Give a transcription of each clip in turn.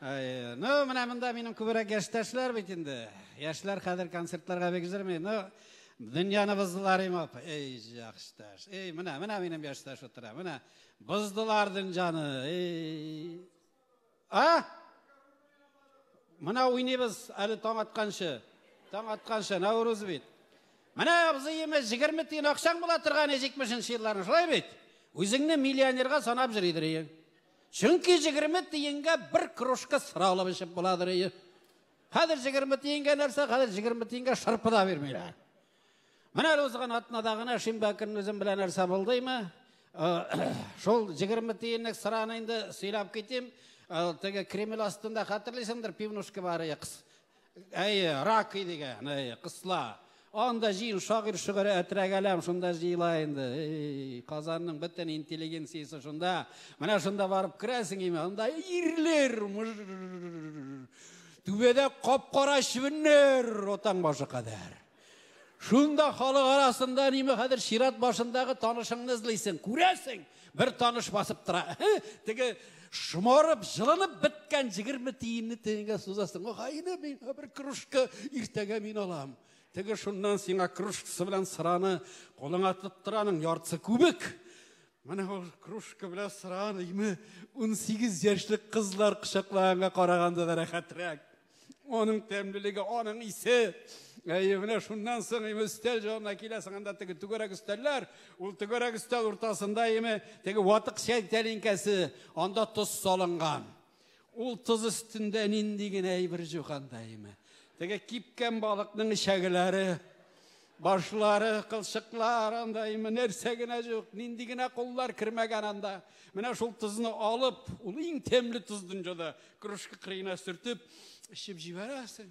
Ну, менә монда минем күбрәк яшьтәшләр бит инде. Яшьләр хәзер концертларга бик җырмый. Ну, дөньяны боздылар имап. Эй, яшьтәш. Эй, менә, менә минем яшьтәш утыра. Менә боздылар дөньяны. Эй. А? Менә уйныйбыз әле таң атканчы. Таң атканчы, Наурыз бит. Менә абзыем 20 тиен акчаң була торган 70 нче елларны, шулай бит? Үзеңне миллионерга санап җөридер иең. Чөнки җигерме тиенгә бер кружка сыра алып эчеп буладыр ие. Хәзер җигерме тиенгә нәрсә, хәзер җигерме тиенгә шырпы да бирмиләр. Менә әле узган атнада гына шимбә көнне үзем белән нәрсә булдымы? Э, шул җигерме тиенлек сыраны инде сөйләп китим. Э, теге Кремль астында хәтерлисеңдер, пивнушка бар икс. Әйе, рак дигән, әйе, кысла. Анда җыен шагыйр шөгыре әтрәгәләм шунда җыела инде. Эй, Казанның бөтен интеллигенциясе шунда. Менә шунда барып керәсең име? Анда ирлер. Түбәдә кап-кара чебеннәр, отаң башы кадәр. Шунда халык арасында ниме хәзер чират башындагы танышыңны эзлисең. Күрәсең, бер таныш басып тора. Теге шомарып, җылынып беткән 20 тиенне тиенгә сузасың. Гайне мин бер кружка иртәгә мин алам. Теге шуннан сиңа кружкасы белән сыраны кулыңа тоттыраның яртысы күбек. Менә ул кружка белән сыран име, унсигез яшьлек кызлар кочаклаганга караганда да рәхәтрәк. Аның тәмлелеге, аның исе. Әйе, менә шуннан соң име өстәл җанына киләсең, анда теге түгәрәк өстәлләр, ул түгәрәк өстәл уртасында име теге ватык чәй тәлинкәсе, анда тоз салынган. Ул тоз өстендә нинди генә әйбер җуган даимә. Теге кипкән балыкның эчәгеләре, башлары, кылчыклар анда име нәрсә генә юк, нинди генә куллар кермәгән анда. Менә шул тозны алып, ул иң тәмле тоз дөньяда, кружка кырыена сөртеп, эчеп җибәрәсең.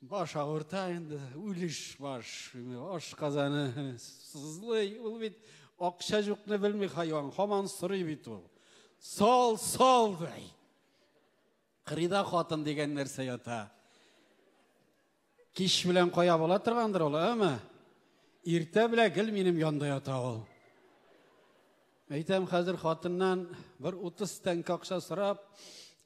Баш авырта инде, үлеш баш. Аш казаны сызлый. Ул бит акча юкны белми хайван, хаман сорый бит ул. Сал, сал дай. Кырыйда хатын дигән нәрсә ята. Кич белән кая була торгандыр ул, әме? Иртә белән гел минем янда ята ул. Әйтәм, хәзер хатыннан бер 30 тәңкә акча сорап,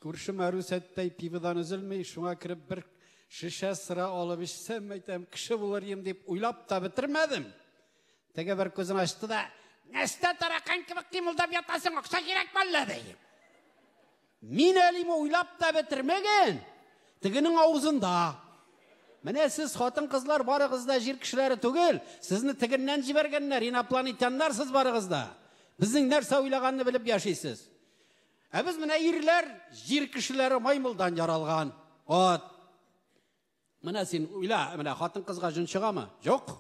күрше Марусәттәй пиводан өзелми, шуңа кереп бер шешә сыра алып эчсәм, әйтәм, кеше булыр идем дип уйлап та бетермәдем. Теге бер күзен ачты да, "Нәрсә таракан кебек кимылдап ятасың, акча кирәк мәллә?" ди. Мин әлим уйлап та бетермәгән, тегенең авызында. Менә сез, хатын-кызлар, барыгыз да җир кешеләре түгел, сезне тегеннән җибәргәннәр, инопланетяннар сез барыгыз да. Безнең нәрсә уйлаганны белеп яшисез. Ә без менә ирләр, җир кешеләре маймылдан яралган. Ат. Менә син уйла, менә хатын-кызга җон чыгамы? Юк.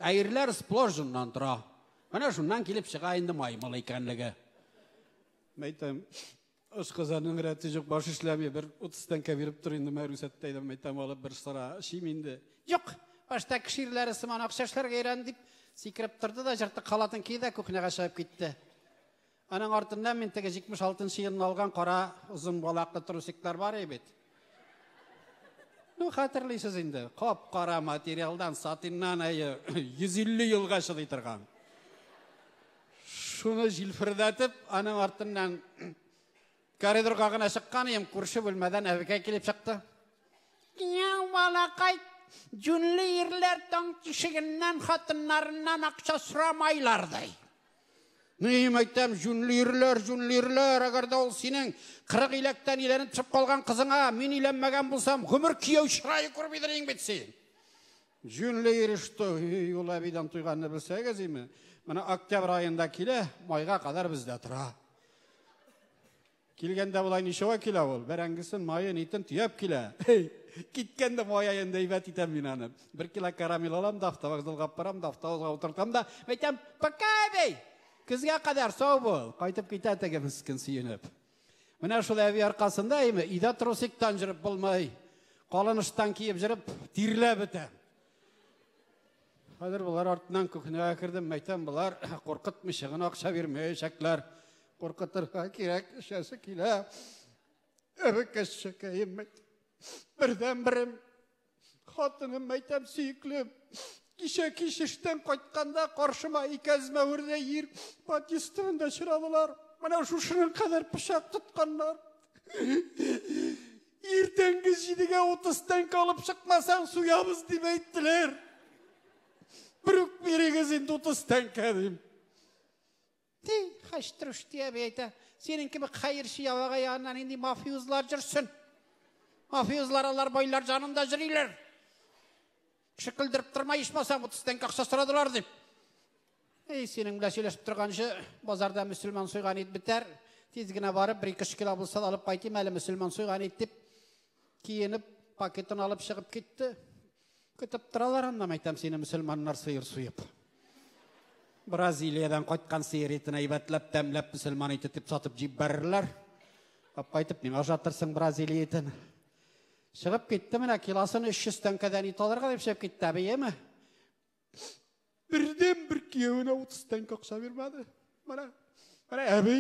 Ә ирләр сплош җоннан тора. Менә шуннан килеп чыга инде маймыл икәнлеге. Мәйтәм, ашказанның рәте юк, баш эшләми, бер 30 тәңкә биреп тор инде, мә рүсәттә идем, мәйтәм алып бер сыра эчим инде. Юк, башта кеше ирләре сыман акча эшләргә өйрән дип, сикереп торды да җыртык халатын киде дә кухняга чыгып китте. Аның артында мин теге 76 нчы елны алган кара озын балаклы трусиклар бар и бит. Ну, хәтерлисез инде, кап-кара материалдан, сатиннан әйе, 150 елга чыдый торган. Шуны җилфердәтеп, аның артыннан коридорга гына чыккан идем, күрше бүлмәдән әбекәй килеп чыкты. Яу, балакай, җүнле ирләр таң тишегеннән хатыннарыннан акча сорамайлар ди. Мөһим әйтәм, җүнле йөриләр, җүнле йөриләр, әгәр дә ул синең кырык иләктән иләнеп төшеп калган кызыңа мин иләнмәгән булсам, гомер кияү чырае күрмидер инең бит син. Җүнле йөриштө, юл әбидән туйганны белсәгез име? Менә октябрь аенда килә, майга кадәр бездә тора. Килгәндә болай ничәгә килә ул? Бәрәңгесен, маен, итен төяп килә. Киткәндә маяен әйбәт итәм мин аны. Бер кило карамель алам да, автовокзалга барам да, автобусга утыртам да, әйтәм, пока, әби! Көзгә кадәр сау бул! Кайтып китә теге мескен сөенеп. Менә шул әби аркасында име, өйдә трусиктан җырып булмай, калыныштан киеп җырып, тирләп бетә. Хәзер болар артыннан кухняга кердем, мәйтәм, болар куркытмыйча гына акча бирмәячәкләр. Куркытырга кирәк, эчәсе килә. Әбекәшчәкәем мәйтәм. Бердән берем хатыным мәйтәм сөеклем. Кичә кичештән кайтканда каршыма икәзмә үрдә ир патистан да чырадылар. Менә шушының кадәр пычак тотканнар. Иртәнге җидегә утыз тәңкә алып чыкмасаң, суябыз дип әйттеләр. Бер үк бирегез инде утыз тәңкә дим. Ти, хәчтрүш тия би әйтә. Синең кебек хәерче явага яннан инде мафиозлар җөрсен. Мафиозлар алар байлар җанында җөриләр. Кеше көлдереп торма, ичмасам, 30 тәңкә акча сорадылар дип. Эй, синең белән сөйләшеп торганчы, базарда мөселман суйган ит бетәр. Тиз генә барып, бер ике кило булса да алып кайтыйм әле мөселман суйган ит дип, киенеп, пакетын алып чыгып китте. Көтеп торалар аннан әйтәм сине мөселманнар сыер суеп. Бразилиядән кайткан сыер итен әйбәтләп, тәмләп мөселман ите дип сатып җибәрерләр. Кап кайтып миңа ошатырсың Бразилия итен. Чыгып китте менә килосын 300 тәңкәдән ит алырга дип чыгып китте, әбиеме? Бердән бер киявенә 30 тәңкә акча бирмәде. Менә, менә әби.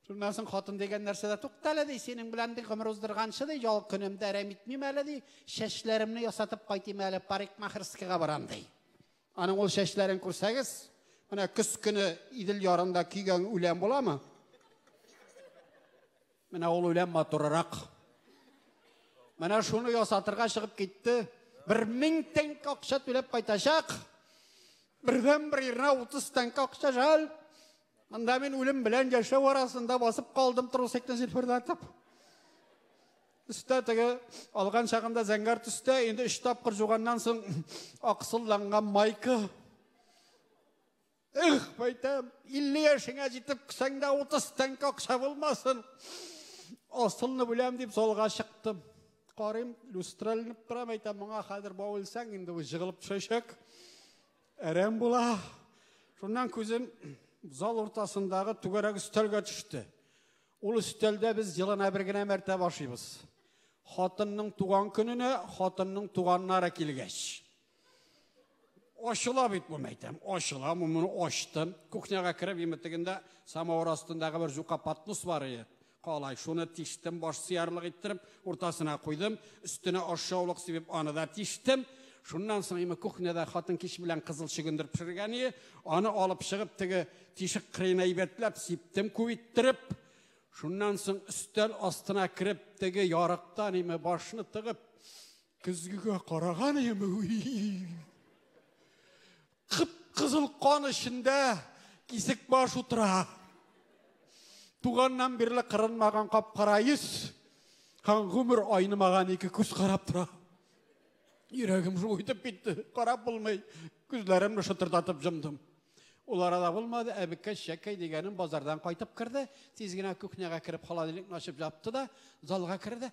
Шуннан соң хатын дигән нәрсәдә туктале ди, синең белән ди гомер уздырганчы ди, ял көнемдә әрәм итмим әле ди, чәчләремне ясатып кайтыйм әле, парикмахерскийга барам ди. Аның ул чәчләрен күрсәгез, менә көз көне Идел ярында көйгән үлән буламы? Менә ул үлән матурырак. Менә шуны ясатырга чыгып китте. Бер мең тәңк акча түләп кайтачак. Бердән бер ирнә 30 тәңк акча жал. Монда мин үлем белән яшәү арасында басып калдым трусикны җилфердәтеп. Өстә теге алган чагында зәңгәр төстә, инде өч тапкыр жуганнан соң аксылланган майка. Эх, байтам, 50 яшеңә җитеп кесәңдә 30 тәңкә акча булмасын. Асылны бүләм дип залга чыктым. Карыйм, люстралынып тора, байтам, моңа хәзер бау үлсәң, инде ул җыгылып төшәчәк. Әрәм була. Шуннан күзем зал уртасындагы түгәрәк өстәлгә төште. Ул өстәлдә без елына бер генә мәртә башыйбыз. Хатынның туган көненә хатынның туганнары килгәч. Ачыла бит бу мәйтәм. Ачыла, моны ачтым. Кухняга кереп, имитегендә самавыр астындагы бер җука патнус бар иде. Калай, шуны тиштем, баш сиярлык иттереп, уртасына куйдым, өстенә ашшаулык сибеп, аны да тиштем. Шуннан соң име кухняда хатын кич белән кызыл чөгендер пешергән иде. Аны алып чыгып, теге тишек кырыена әйбәтләп сиптем, күп иттереп. Шуннан соң өстәл астына кереп, теге ярыктан име башны тыгып, Көзгегә караган яме. Кып кызыл кан эчендә кисек баш утыра. Туганнан бирле кырынмаган капкара йөз һәм гомер айнымаган ике күз карап тора. Йөрәгем шул итеп китте. Карап булмый. Күзләремне шытырдатып җомдым. Ул арада булмады, әбеккә шәкәй дигәнем базардан кайтып керде. Тиз генә кухняга кереп холодильникны ачып җапты да, залга керде.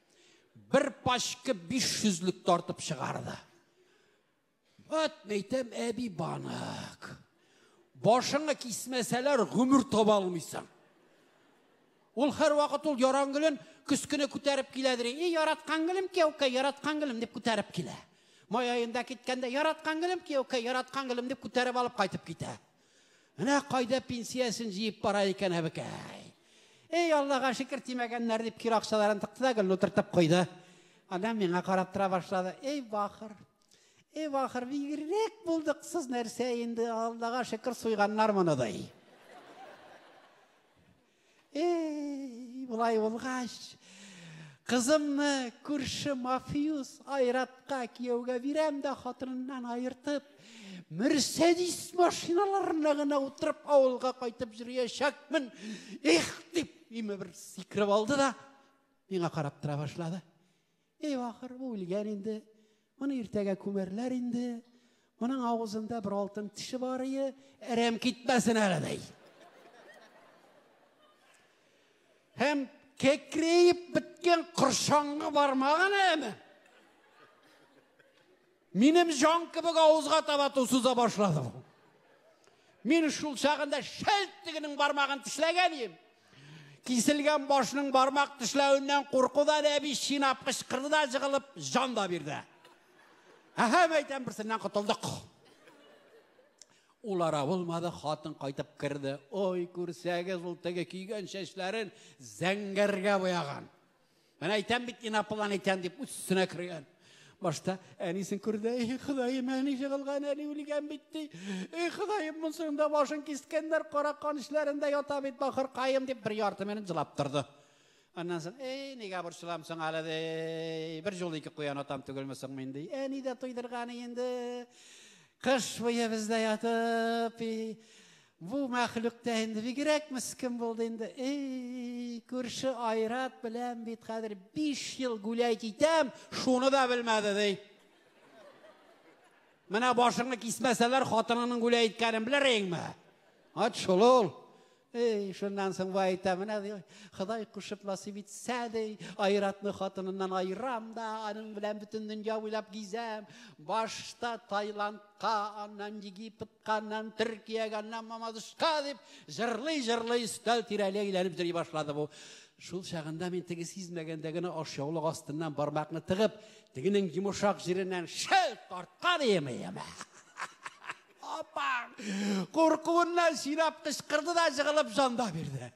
Бер пачка 500-лек тартып чыгарды. Вот мәйтәм әби банак. Башыңа кисмәсәләр гомер таба алмыйсың. Ул һәр вакыт ул яран гөлен көскене күтәреп киләдер. И яраткан гөлем кияүкә, яраткан гөлем дип күтәреп килә. Май аенда киткәндә яраткан гөлем кияүкә, яраткан гөлем дип күтәреп алып кайтып китә. Менә кайда пенсиясен җыеп бара икән әбекәй. Эй, Аллага шикер тимәгәннәр дип кир акчаларын тыкты да гел утыртып куйды. Ана миңа карап тора башлады. Эй, бахыр. Эй, бахыр, бигрәк булдыксыз нәрсә инде, Аллага шикер суйганнар моны ди. Эй, болай булгач, кызымны күрше мафиус Айратка кияүгә бирәм дә хатыныннан аертып, Мерседис машиналарына гына утырып авылга кайтып йөриячәкмен. Их, дип, име бер сикереп алды да миңа карап тора башлады. Әй, ахыр, бу үлгән инде. Моны иртәгә күмәрләр инде. Моның авызында бер алтын теше бар ие, әрәм китмәсен әле, ди. Һәм кекрейеп беткән коршаңны бармагын әме. Минем җан кебек авызга таба ту суза башлады бу. Мин шул чагында шәлт тегенең бармагын тешләгән идем. Киселгән башның бармак тешләвеннән куркудан әби чинап кычкырды да җыгылып җан да бирде. Әһәм әйтәм берсеннән котылдык. Улара булмады, хатын кайтып керде. Ой, күрсәгез, ул теге көйгән чәчләрен зәңгәргә буяган. Мен әйтәм бит, инаплан әйтәм дип үссенә кергән. Башта әнисен күрде, эх, Ходаем, әни җыгылган, әни үлгән бит ди. Эх, Ходаем, монсының да башын кискәннәр, кара кан эшләрендә ята бит, бахыр каем дип бер ярты минут җылап торды. Аннан соң, эй, нигә борчыламсың әле ди. Бер жол ике куян атам түгелме соң мин ди. Әни дә туйдырган инде. Кыш буе бездә ятып, Бу мәхлук та инде бигрәк мескин булды инде. Эй, күрше Айрат белән бит хәзер 5 ел гүләй китәм, шуны да белмәде ди. Менә башыңны кисмәсәләр, хатынының гүләй иткәнен белер инеңме? Ат шул ул. Эй, шуннан соң бай әйтә, менә ди, Ходай кушып насыйп итсә ди, Айратны хатыныннан айрам да, аның белән бөтен дөнья буйлап гизәм. Башта Таиландка, аннан Египет Каннан Төркия, ганнан Мамадышка дип җырлый җырлый өстәл тирәли әйләнеп йөри башлады бу. Шул чагында мин теге сизмәгәндә генә ашъяулык астыннан бармакны тыгып, тегенең йомшак җиреннән шәл тарткан иеме яме. Апа! Куркуыннан сирап кычкырды да җыгылып җанда бирде.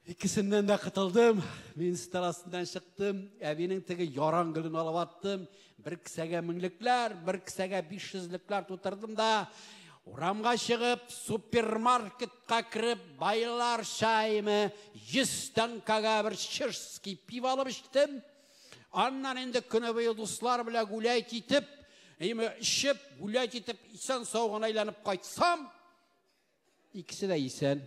Икесеннән дә кытылдым. Мин стар астыннан чыктым. Әбинең теге яран гөлен алып аттым. Бер кесәгә меңлекләр, бер кесәгә 500лекләр тутырдым да, урамга чыгып, супермаркетка кереп, байлар чаймы 100 тәңкәгә бер чешский пиво алып эчтем. Аннан инде көне буе дуслар белән гулять итеп, эме, эчеп, гулять итеп, исән сау гына әйләнеп кайтсам, Икесе дә исән.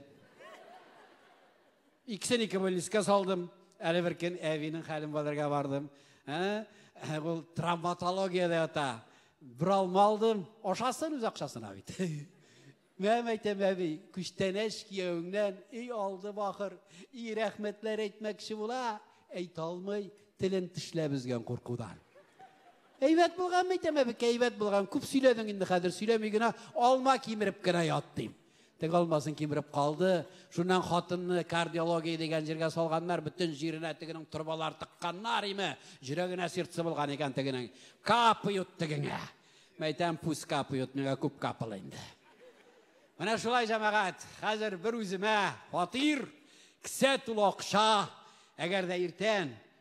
Икесен ике больницка салдым. Әле бер көн әбинең хәлен белергә бардым. Ә? Ул травматологиядә ята. Бер алма алдым. Ашасын үз акчасына бит. Мәм әйтәм, әби, күчтәнәч кияүеңнән өй алды бахыр. И рәхмәтләр әйтмәкче була, әйтә алмый, телен тешләп өзгән куркудан. Әйбәт булган бит, әмма бик әйбәт булган. Күп сөйләдең инде хәзер, сөйләми генә, алма кимереп кенә ят, дим. Теге алмасын кимереп калды. Шуннан хатынны кардиология дигән җиргә салганнар, бөтен җиренә тегенең торбалар тыкканнар име. Җөрәгенә сердце булган икән тегенең. Капают тегеңә. Мәйтәм, пусть капают, миңа күп капыл инде. Менә шулай җәмәгать, хәзер бер үземә фатир, кесә тулы акча, әгәр дә иртән